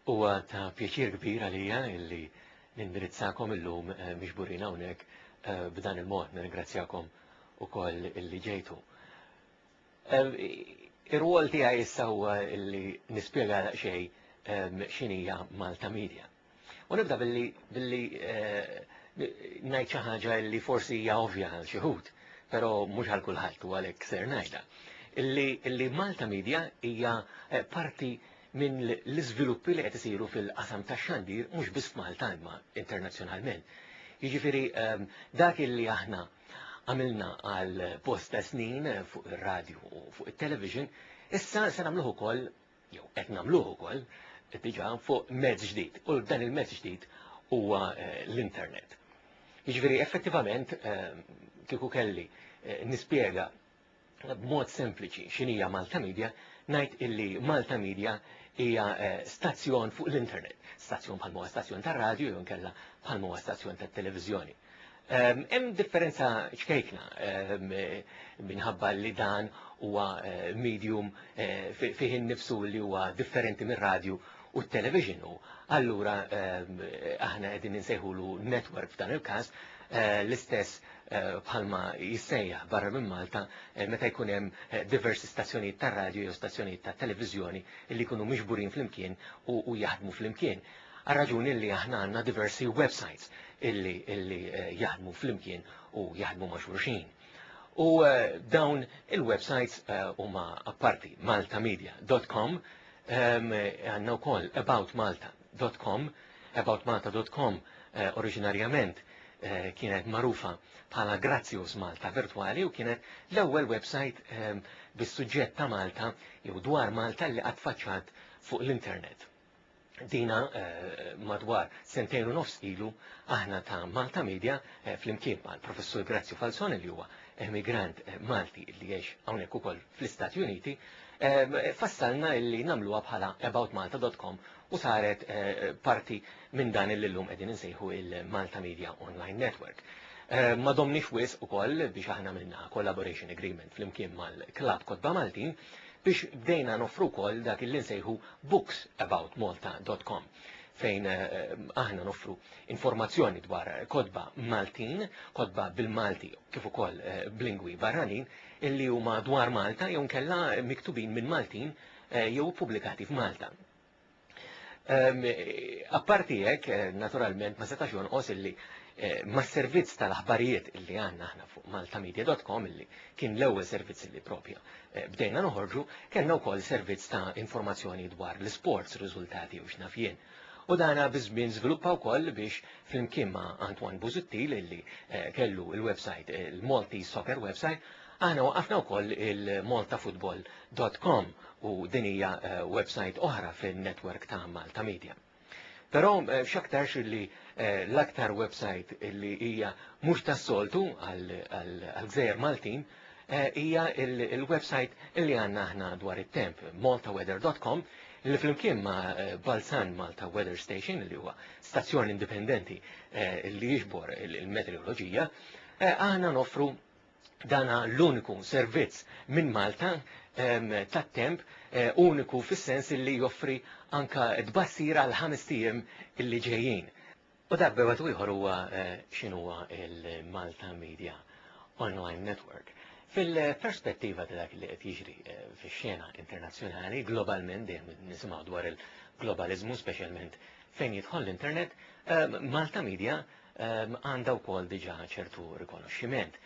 Huwa ta' pjaċir kbir għalija illi nindirizzakom illum eh, miġburin hawnhekk eh, b'dan il-mod nirringrazzjakom ukoll illi ġejtu. Eh, ir-rwol tiegħi issa huwa illi nispjega daqsxejn x'inhija Malta Media. U nibda billi billi eh, ngħid xi ħaġa li forsi hija ovvja għal xi ħud, però mhux għal kulħadd u għalhekk ser ngħidha. Illi, illi Malta Media hija eh, parti minn l-iżviluppi li qed isiru fil-qasam tax-xandir mhux biss f'Malta imma internazzjonalment. Jiġifieri ehm, dak illi aħna għamilna għal posta snin fuq ir-radju u fuq it-television, issa se nagħmluh ukoll jew qed nagħmluh ukoll diġà fuq mezz ġdid u dan il-mezz ġdid huwa eh, l-internet. Jiġifieri effettivament eh, kieku kelli eh, nispjega b'mod sempliċi x'inhija Malta Media, ngħid illi Malta Media hija eh, stazzjon fuq l-internet, stazzjon bħal huwa stazzjon tar-radju jew inkella bħal huwa stazzjon tat-televiżjoni. Hemm differenza ċkejkna minħabba li dan huwa medium fih innifsu li huwa differenti mir-radju u t-television u allura aħna qegħdin insejħulu network f'dan il-każ l-istess bħalma jissejjaħ barra minn Malta meta jkun hemm diversi stazzjonijiet tar-radju jew stazzjonijiet tat-televiżjoni li jkunu miġburin flimkien u jaħdmu flimkien. Għar-raġuni li aħna għandna diversi websajts illi illi jaħdmu flimkien u jaħdmu ma' xulxin. U dawn il-websajts huma apparti maltamedia dot com għandna wkoll about malta dot com about malta dot com oriġinarjament kienet magħrufa bħala Grazzjus Malta Virtwali u kienet l-ewwel websajt bis-suġġett ta' Malta jew dwar Malta li qatt faċċat fuq l-internet. dina madwar sentejn u nofs ilu aħna ta' Malta Media flimkien mal professur Grazzi Falzone li huwa emigrant Malti li jgħix hawnhekk ukoll fl-Istati Uniti fassalna li nagħmluha bħala aboutmalta.com u saret parti minn dan li llum qegħdin insejħu il-Malta Media Online Network. Ma domniex wisq ukoll biex aħna minna collaboration agreement flimkien mal-Klabb Kotba Maltin biex bdejna nofru wkoll dak li nsejħu booksaboutmalta.com fejn eh, aħna nofru informazzjoni dwar kodba Maltin, kodba bil-Malti kif ukoll eh, b'lingwi barranin illi huma dwar Malta jew nkella miktubin minn Maltin eh, jew pubblikati f'Malta. Apparti hekk, eh, naturalment, ma setax jonqos illi eh, ma servizz tal-aħbarijiet illi għanna ħna fuq maltamedia.com illi kien l-ewwel servizz illi propja eh, bdejna noħorġu, kellna wkoll servizz ta' informazzjoni dwar l-sports, riżultati u x'nafjien. U dana bizmin żviluppa wkoll biex flimkien ma' Antoine Buzuttil illi kellu il-website, il-Malti Soccer website, Aħna waqqafna wkoll il-maltafootball.com u din hija eh, website oħra fin-netwerk ta' Malta Media. Però eh, x'aktarx li eh, l-aktar website li hija mhux tas-soltu għal-gżejjer Maltin hija il-website li għandna aħna dwar it-temp, maltaweather.com, li flimkien ma' eh, Balzan Malta Weather Station li huwa stazzjon indipendenti eh, li jiġbor il-meteoroloġija, eh, aħna noffru dan hu l-uniku servizz minn Malta tat-temp uniku fis-sens li joffri anke tbassir għal ħames ijiem li ġejjin. U dak b'wieħed u ieħor huwa x'inhuwa l-Malta Media Online Network. Fil-perspettiva ta' dak li qed jiġri fix-xena internazzjonali, globalment dejjem nisimgħu dwar il-globaliżmu, speċjalment fejn jidħol l-internet, Malta Media għandha wkoll diġà ċertu rikonoxximent.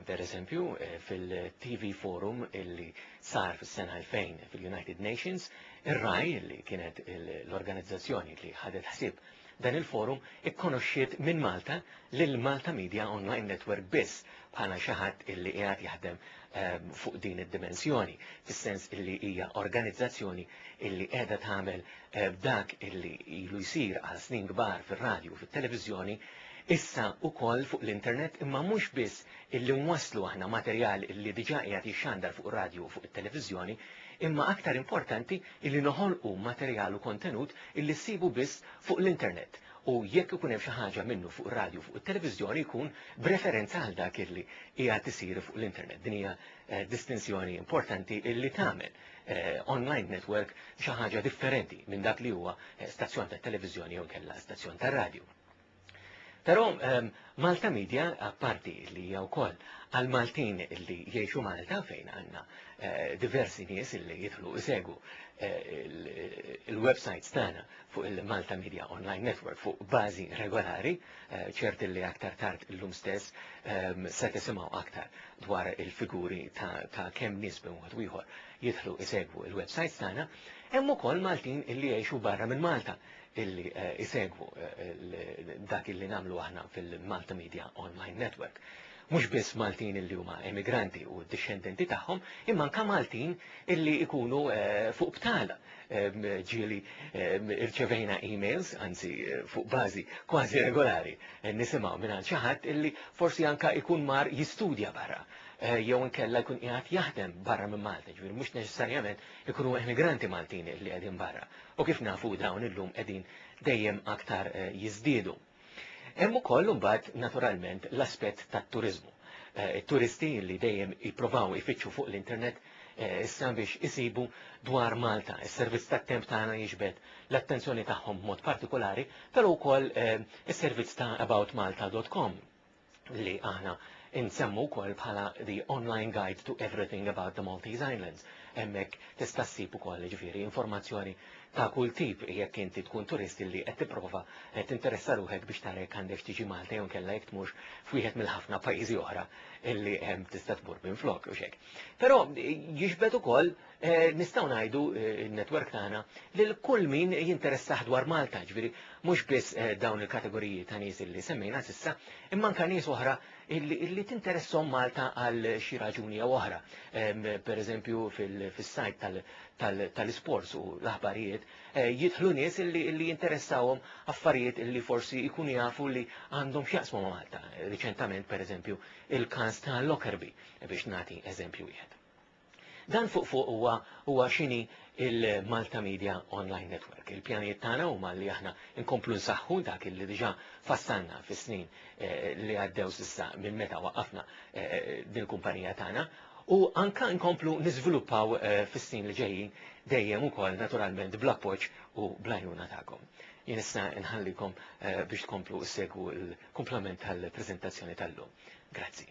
Per eżempju, eh, fil-TV Forum illi sar fis-sena 2000 fil-United Nations, ir-raj li kienet l-organizzazzjoni li ħadet ħsib dan il-forum ikkonoxxiet minn Malta lil Malta Media Online Network biss bħala xi ħadd illi qiegħed jaħdem ehm, fuq din id-dimensjoni, fis-sens illi hija organizzazzjoni illi qiegħda tagħmel eh, dak illi ilu jsir għal snin kbar fir-radju u fit-televiżjoni, issa ukoll fuq l-internet imma mhux biss illi nwasslu aħna materjal illi diġà qiegħed jixxandar fuq radju u fuq it-televiżjoni, imma aktar importanti illi noħolqu materjal u kontenut illi ssibu biss fuq l-internet u jekk ikun hemm xi ħaġa minnu fuq ir-radju fuq it-televiżjoni jkun b'referenza għal dak illi hija tisir fuq l-internet. Din hija eh, distinzjoni importanti illi tagħmel eh, online network xi ħaġa differenti minn dak li huwa eh, stazzjon ta' televiżjoni jew kella stazzjon ta' radju. Però ehm, Malta Media, apparti li hija wkoll għal Maltin li jgħixu Malta fejn għandna diversi nies li jidħlu isegu il-websites tagħna fuq il-Malta Media Online Network fuq bażi regolari, eh, ċert li aktar tard illum stess ehm, se tisimgħu aktar dwar il-figuri ta' kemm nies b'wieħed ieħor jidħlu isegwu il-websajt tagħna, hemm ukoll Maltin illi jgħixu barra minn Malta illi eh, isegwu eh, dak illi nagħmlu aħna fil-Malta Media Online Network. mhux biss Maltin illi huma emigranti u d-dixxendenti tagħhom, imma anke Maltin illi jkunu fuq btal. Ġieli rċevejna emails, anzi fuq bażi kważi regolari, nisimgħu mingħand xi ħadd illi forsi anke jkun mar jistudja barra jew inkella jkun qiegħed jaħdem barra minn Malta, ġifieri mhux neċessarjament ikunu emigranti Maltin illi qegħdin barra. U kif nafu dawn illum qegħdin dejjem aktar jiżdiedu. Hemm ukoll imbagħad naturalment l-aspett tat-turiżmu. It-turisti eh, li dejjem jippruvaw ifittxu fuq l-internet eh, issa biex isibu dwar Malta. Is-servizz tat-temp tagħna jiġbed l-attenzjoni tagħhom b'mod partikolari, però wkoll eh, is-servizz ta' aboutmalta.com li aħna insemmu wkoll bħala the online guide to everything about the Maltese Islands. Hemmhekk tista' ssib ukoll ġifieri informazzjoni ta' kull tip jekk inti tkun turisti li qed tipprova qed tinteressa ruħek biex tara jekk għandek tiġi Malta jew kella jekk tmurx f'wieħed mill-ħafna pajjiżi oħra illi hemm tista' tmur minn flok u xek. Però jiġbed ukoll nistgħu ngħidu n-netwerk tagħna lil kull min jinteressah dwar Malta, ġifieri mhux biss dawn il-kategoriji ta' nies li semmejna s'issa, imma anke nies oħra li tinteressom Malta għal xi raġuni jew oħra. Pereżempju fis-sajt tal-isports u l-aħbarijiet jidħlu nies li jinteressawhom affarijiet li forsi jkunu jafu li għandhom x'jaqsmu ma' Malta. Riċentament pereżempju il-każ ta' Lockerbie biex nagħti eżempju wieħed. Dan fuq fuq huwa huwa x'inhi il-Malta Media Online Network. Il-pjanijiet tagħna huma li aħna nkomplu nsaħħu dak li diġà fassalna fis-snin eh, li għaddew s'issa minn meta waqafna eh, din kumpanija tagħna u anka nkomplu niżviluppaw eh, fis-snin li ġejjin dejjem ukoll naturalment bl-appoġġ u bl-għajnuna tagħkom. Jien issa nħallikom biex tkomplu segwu l-komplement tal-preżentazzjoni tal-lum. Grazzi.